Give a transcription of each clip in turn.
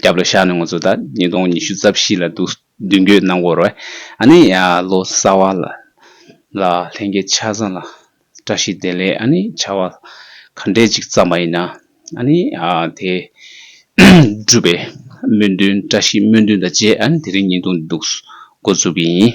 སྐྱབས་ལོ་ཤར་ནས་ངོ་ཚོ་ད་ཉིས་སྟོང་ཉི་ཤུ་རྩ་བཞི་ལ་འདུག་མདུན་སྐྱོད་གནང་སྐོར་བས་ཨ་ནི་ལོ་གསར་བ་ལ་ལྷན་རྒྱས་ཆ་ཚང་ལ་བཀྲ་ཤིས་བདེ་ལེགས་ཨ་ནི་བྱ་བ་ག་འདྲས་ཅིག་བརྩམས་པ་ཡིན་ན་ཨ་ནི་དེ་འགྲུབ་པའི་སྨོན་འདུན་བཀྲ་ཤིས་སྨོན་འདུན་དང་བཅས་ཨ་ནི་དེ་རིང་ཉིས་སྟོང་འདུག་འགོ་བཙུགས་ཀྱི་ཡིན།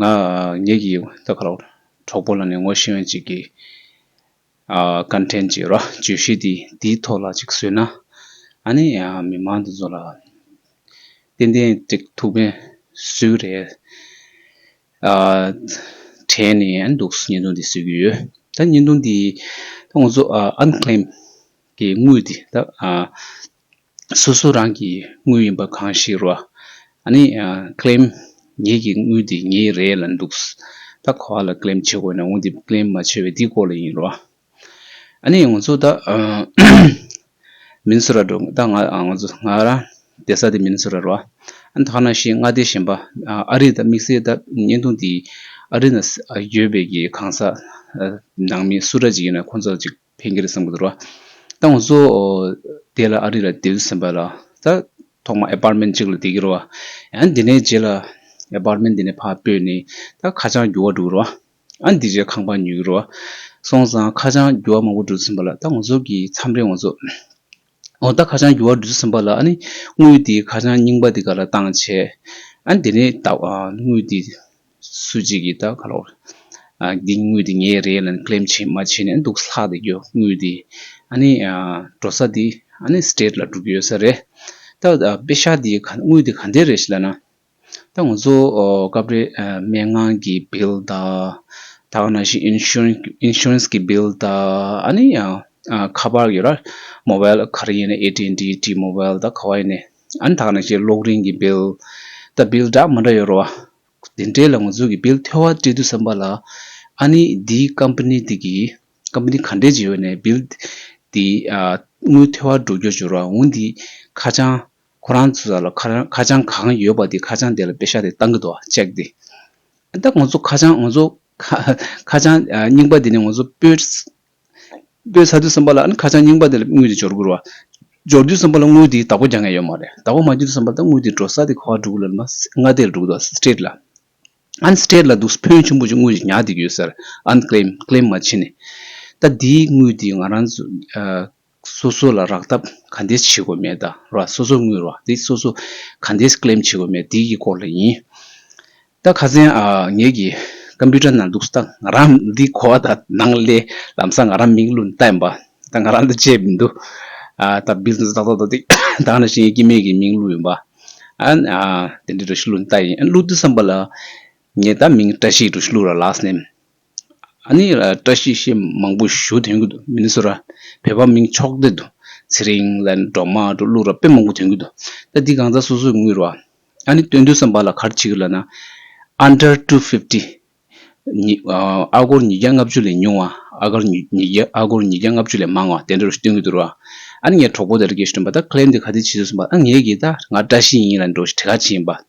ང་ངེད་ཀྱི་ལྟ་གྲོགས་པོ་ལ་ནི་ངོ་ཤེས་མཁན་ཅིག་གིས། བཀའ་དྲིན་ཅེས་ར་བརྗོད་གཞི་འདིའི་ཐོག་ལ་ཅིག་བཟོས་ན། ཨ་ནི་མི་མང་འདི་ཚོ་ལ་ཏན་ཏན་འགྲིག་ཐུབ་མཁན་སུ་རེད་དྲན་ནས་འདུག་བརྙན་ཐུང་འདི་བཟོས་ཀྱི་ཡོད། ད་བརྙན་ཐུང་འདི་ད་ང་ཚོ unclaimed གྱི་དངུལ་འདི་ད་སོ་སོ་རང་གི་དངུལ་ཡིན་པ་གང་ཞིག་རོ། ནི claim ངེད་ཀྱི་དངུལ་འདི་ངའི་རེད་ལ་འདུག་ད་ག་བ་ལ claim བྱེད་དགོས་ན་འོན་ཏེ claim མ་བྱས་པའི་འདི་སྐོར་ལ་ཡིན་རོ། ནི་ང་ཚོ་ད་མིན་སུ་ར་འགྲོ་ད་ང་ཚོ་ང་རང་བསྡད་ས་དེ་མིན་སུ་ར་རོ། ད་ག་ན་ཤི་མངའ་སྡེ་གཞན་པ་ཨ་རི་ད་དམིགས་བསལ་ད་བརྙན་ཐུང་འདི་ཨ་རི་ན་ཡོད་པའི་གང་ཟག་ནང་མི་སུ་ར་ཅིག་ཡིན་ན་ཁོ་ཚོ་ལ་ཅིག། ཕན་གྱི་རེད་བསམ་གྱི་འདུག་ར། ད་ང་ཚོ་དེ་ལ་ཨ་རི་ལ་སྡོད་ཟིན་པ་ལ་ད་ཐོག་མ Apartment གཅིག་ལ་སྡད་ཀྱི་ར་བ། ཡང་དེ་ནས་རྗེས་ལ Apartment དེ་ནས་ཕར་སྤོས་ནས་ད་ཁ་བྱང་བསྒྱུར་བ་འགྲོ་གི་ར་བ། ཡང་དེ་རྗེས་ཁང་པ་ཉོས་ཀྱི་ར་བ། སོང་ཙང་ཁ་བྱང་བསྒྱུར་བ་མང་པོ་འགྲོ་ཟིན་པ་ལ་ད་ང་ཚོ་གི་མཚམས་རེ་ང་ཚོ་ཨོ་ད་ཁ་བྱང་འགྱུར་བ་འབྲི་ས་ཟིན་པ་ལ་ཨ་ནི་དངུལ་དེའི་ཁ་བྱང་རྙིང་པ་དེ་ག་ལ་བཏང་བྱས། ཨ་ནི་དེ་ནི་ད་དངུལ་དེ་སུ་གཅིག་གིས་ད་ག་ལ་བོར། འདི་དངུལ་དེ་ངའི་རེད་ལ་ཀླེམ་བྱེད་མ་བྱེད་ནས་འདུག་ལྷག་དེ་རྒྱུ་དངུལ་དེ་ཨ་ནི་འགྲོ་ས་དེ་ཨ་ནི state ལ་འགྲོ་གི་ཡོད་ས་རེད། ད་དཔེ་ཤག་དེའི་དངུལ་དེ་ག་འདྲའི་རེད་ཞེས་ལབ་ན། ད་ང་ཚོ་སྐབས་རེ་མན་ངག་གི bill དང། ད་ལྟ་ན་ཞིག insurance གི bill དང་ཨཱ་ནི་ཁ་པར་ཡོད་ར། mobile ག་རེ་ཡིན་ན AT&T T-mobile དང་ག་བ་ཡིན་ནའི་ཨཱ་ནི་ད་ལྟ་ན་ཞིག་གློག་རིན་གི bill དང bill འདྲ་མི་འདྲ་ཡོད་ར། དེ་འདྲའི་ལ་ང་ཚོ་གི bill ཐོལ་བ་སྤྲད་དུས་བསམ་པ་ལ་ཨཱ་ནི་འདི company དེ་གི company ག་འདྲས་ཀྱི་ཡོད་ནའི bill དེ་དངུལ་ཐོལ་བ་འགྲོ་རྒྱུར་འགྱུར་ར་འོན་ཏེ་ཁ་བྱང་ཁོ་རང་ཚོ་ལ་ཁ་བྱང་གང་ཡོད་པ་དེ་ཁ་བྱང་དེ་ལ་དཔེ་ཤག་དེ་བཏང་གི་འདུག་ཅེག་དེ། ད་ང་ཚོ་ཁ་བྱང་ང་ཚོ་ཁ་བྱང་རྙིང་པ་དེ་ནས་ང་ཚོ་སྤོས་ཚར་དུས་བསམ་པ་ལ་ཁ་བྱང་རྙིང་པ་དེ་ལ་དངུལ་དེ་འབྱོར་དགོས་རུང། འབྱོར་དུས་བསམ་པ་ལ་དངུལ་དེའི་བདག་པོ་རྒྱག་མཁན་ཡོད་མ་རེད་བདག་པོ་མ་བརྒྱུད་དུ་བསམ་པ་ད་དངུལ་དེ་འགྲོ་ས་དེ་ག་འགྲོ་གི་ལ་མངའ་སྡེ་ལ་འགྲོ་གི་འདུག State ལ། ཨན State ལ་འདུག་བོན་ཆེན་པོ་ཅིག་དངུལ་དེ་ཉག་དེ་ཡོད་ཟེར་ཨན Claim Claim མ་བྱེད་ནས། ད་དེའི་དངུལ་དེ་ང་རང་ཚོ། སོ་སོ་ལ་རག་ཐབས་ག་འདེས་བྱེད་དགོས་མེད་ད་ར་སོ་སོ་དངུལ་རག་འདི་སོ་སོ་ག་འདེས claim བྱེད་དགོས་མེད་འདི་ཡི་སྐོར་ལ་ཡིན། ད་ག་ཚན་ངེད་ཀྱི Computer ནང་འདུག་ས་ད་ང་རང་འདི་གོ་བ་ད་ནང་གླེ་ལམ་ས་ང་རང་མིག་བླུན་ལྟ་ཡིན་པ་ད་ང་རང་ད་བྱས་མི་འདུག་ད Business ཏག་ཏག་ཏག་ཏིག་ད་ང་རང་ཤེས་ཡོན་སྐྱིད་མེད་ཀྱི་མིང་བླུ་ཡིན་པ་དེ་འདྲའི་འགྲོ་ཤི་བླུན་ལྟ་ཡིན་བླུ་འདུག་བསམ་པ་ལ་ངེད་ད་མིང་བཀྲ་ཤིས་འགྲོ་ཤི་བླུ་ར Last name། བཀྲ་ཤིས་ཤིག་མང་པོ་ཞུ་དོན་གྱི་འདུག་མི་ནི་སུ་ར་བོད་པ་མིང་ཆོག་སྡེ་དུ་ཚེ་རིང་ལ་ནི་འབྲོག་མ་འབྲོག་གླུ་ར་དཔེ་མང་པོ་དོན་གྱི་འདུག་ད་འདི་གང་ཟག་སོ་སོའི་དངུལ་རོ་ཨ་ནི་སྟོན་དུས་སམ་བ་ལ་གར་བྱེད་གི་ལ་ན Under two fifty ཨ་སྒོར་ཉིས་བརྒྱ་ལྔ་བཅུ་ལས་ཉུང་བ་ཨ་སྒར་ཨ་སྒོར་ཉིས་བརྒྱ་ལྔ་བཅུ་ལས་མང་བ་དེ་འདྲ་རུ་སྟོན་གྱི་འདུག་རོ་ཨ་ནི་ངའི་གྲོགས་པོ་དེ་ར་གས་ཞུ་དོན་པ་ད Claim དེ་ག་དུས་བྱེད་དུས་སུམ་པ་ཨ་ངས་གིས་ད་ང་བཀྲ་ཤིས་ཡིན་ལ་འགྲོ་ཞིག་བྲེ་ག་བྱེད་ཡིན་པ།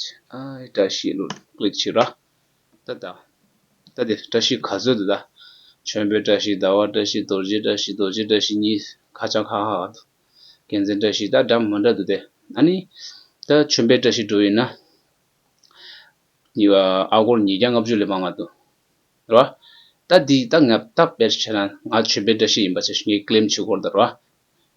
sh བཀྲ་ཤིས་ལོ་ཀླུ་ཁྱི་ར་ད་ད་ད་དེ་བཀྲ་ཤིས་ག་ཚོད་དུ་ད་ཁྱོད་བོད་བཀྲ་ཤིས་ཟླ་བ་བཀྲ་ཤིས་རྡོ་རྗེ་བཀྲ་ཤིས་རྡོ་རྗེ་བཀྲ་ཤིས་གཉིས་ཁ་བྱང་ཁ་ཁ་ཁ་འདུག་རྒྱལ་མཚན་བཀྲ་ཤིས་ད་འདྲ་མི་འདྲ་འདུག་དེ་ཨ་ནི་ད་ཁྱོད་བོད་བཀྲ་ཤིས་འགྲོ་ཡིན་ན་གཉིས་པ་ཨ་སྒོར་ཉིས་བརྒྱ་ལྔ་བཅུ་ལས་མང་མ་འདུག་རེད་བ་ད་འདི་ད་ངས་ད་དཔེར་བྱས་ན་ང་ཁྱོད་བོད་བཀྲ་ཤིས་ཡིན་པ་ཆ་ངས་ཀླེམ་བྱེད་སྐོར་དང་རེད་བ་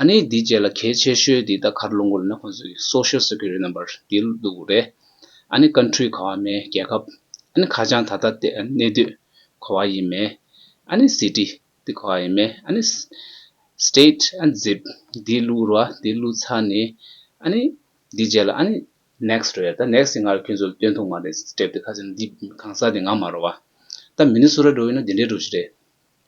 ཨ་ནི་འདི་བཅས་ལ་གལ་ཆེ་ཤོས་དེ་ད་གར་ལུང་ཁུག་ལ་ན་ཁོང་ཚོའི Social Security Number དེ་འདུག་རེད། ཨ་ནི Country གོ་བ་མེད་རྒྱལ་ཁབ། ཨ་ནི་ཁ་བྱང་ད་ལྟ་སྟེ་གནས་སྡོད་གོ་བ་ཡིན་མེད། ཨ་ནི City དེ་གོ་བ་ཡིན་མེད་ཨ་ནི State ཨ་ནི Zip དེ་བླུག་རོགས་ཨ་དེ་བླུག་ཚར་ནས་ཨ་ནི་འདི་བཅས་ལ་ཨ་ནི Next རེད་ད Next དེ་སྔར་ཁྱོད་ཚོ་ལ་སྟོན་ཐུག་མ་རེད Step དེ་ཁ་བྱང་འདི་གང་ཟག་དེ་ངང་མ་རོགས་ཨ་ད Minnesota འགྲོ་ཡིན་ན་འདི་འདྲའི་འགྲོ་གཞི་རེད།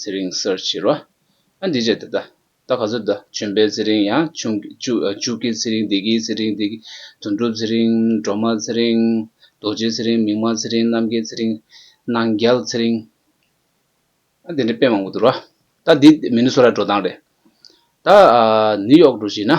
ཚེ་རིང་གསར་བྱེད་རོ། ཨ་འདི་ཅད་ད་ད་ག་ཚོད་ད་བྱོན་པའི་ཚེ་རིང་ཡང་ཕྱུག་གི་ཚེ་རིང་བདེ་སྐྱིད་ཚེ་རིང་བདེ་དོན་གྲུབ་ཚེ་རིང་སྒྲོལ་མ་ཚེ་རིང་རྡོ་རྗེ་ཚེ་རིང་མིག་དམར་ཚེ་རིང་རྣམ་རྒྱལ་ཚེ་རིང་སྣང་རྒྱལ་ཚེ་རིང། ཨ་དེ་འདྲའི་དཔེ་མང་པོ་འདུག་རོ། ད་འདི་མི་ནུས་སོ་ར་འགྲོ་སྟངས་རེད། ད་ནིའུ་ཡོག་འགྲོ་བཞིན་ན།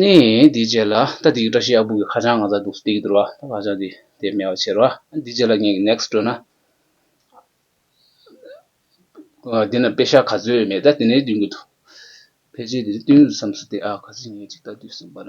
ནི། དེའི་རྗེས་ལ་ད་དེའི་བཀྲ་ཤིས་ཨ་སྦུག་གི་ཁ་བྱང་ང་ཚ་འདུག་སྟེ་ཡིག་བསྡུར་བ་ད་ཁ་བྱང་འདི་དེ་སྨྲས་བ་ཕྱིར་བ། དེའི་རྗེས་ལ་ངས་ཀྱི next བྲོས་ན། འདི་ན་དཔེ་ཤག་ག་ཚོད་ཡོད་མེད་ད་དེ་ནས་བསྟུན་གྱི་འདུག་ཕལ་ཆེར་དེ་རིང་བསྟུན་རུ་བསམས་སོ་སྟེ་ཨ་ག་ཚོད་ངས་ཅིག་ད་བསྡུས་སོང་བར།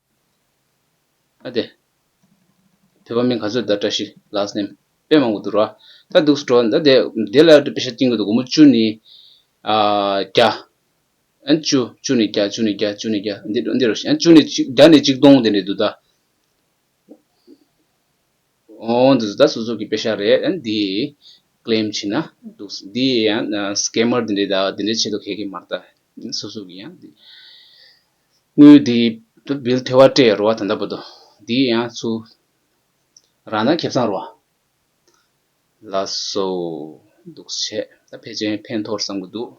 ཨ་དེ། དེ་བ་མིན་ག་ཚོད་ད་བཀྲ་ཤིས་ལགས་སེམས་དཔེ་མང་པོ་འདུག་ར་ད་འདུག་སྤྲོ་ད་དེ་དེ་ལ་དཔེ་ཆ་བཏིང་དགོས་འདུག་དགོང་མོ་བཅུ་ནི་བརྒྱ། ཨན་བཅུ་བཅུ་ནི་བརྒྱ་བཅུ་ནི་བརྒྱ་བཅུ་ནི་བརྒྱ་འདི་འདི་རུ་ཤེས་ཨན་བཅུ་ནི་གཅིག་བརྒྱ་ནི་གཅིག་སྟོང་དེ་འདྲས་འདུག་ད། འོང་འདུག་ད་སོ་སོ་གི་དཔེ་ཆ་རེད་ཨན་འདི claim བྱེད་ན་འདུག་འདི་ཡང scammer དེ་འདྲས་ད་དེ་འདྲས་བྱེད་དུ་ཁེལ་གི་མ་རེད་ད་སོ་སོ་གི་ཡང་འདི། དངུལ་འདི་དུ་འབུལ་ཐལ་བ་སྤྲད་རོ་བ་དང་འདྲ་པོ་འདུག་འདི་ཡང་ཚུ་རང་དང་ཁྱབ་ཚང་རོ་བ་ལ་སོ་འདུག་བྱས་ད་ཕལ་ཆེན་ཕན་ཐོག་བསམ་གི་འདུག།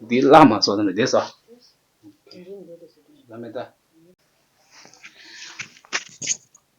འདི་བླ་མ་ཚོ་དང་འདྲ་བསྡད་ས།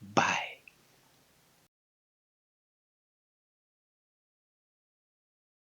བའི།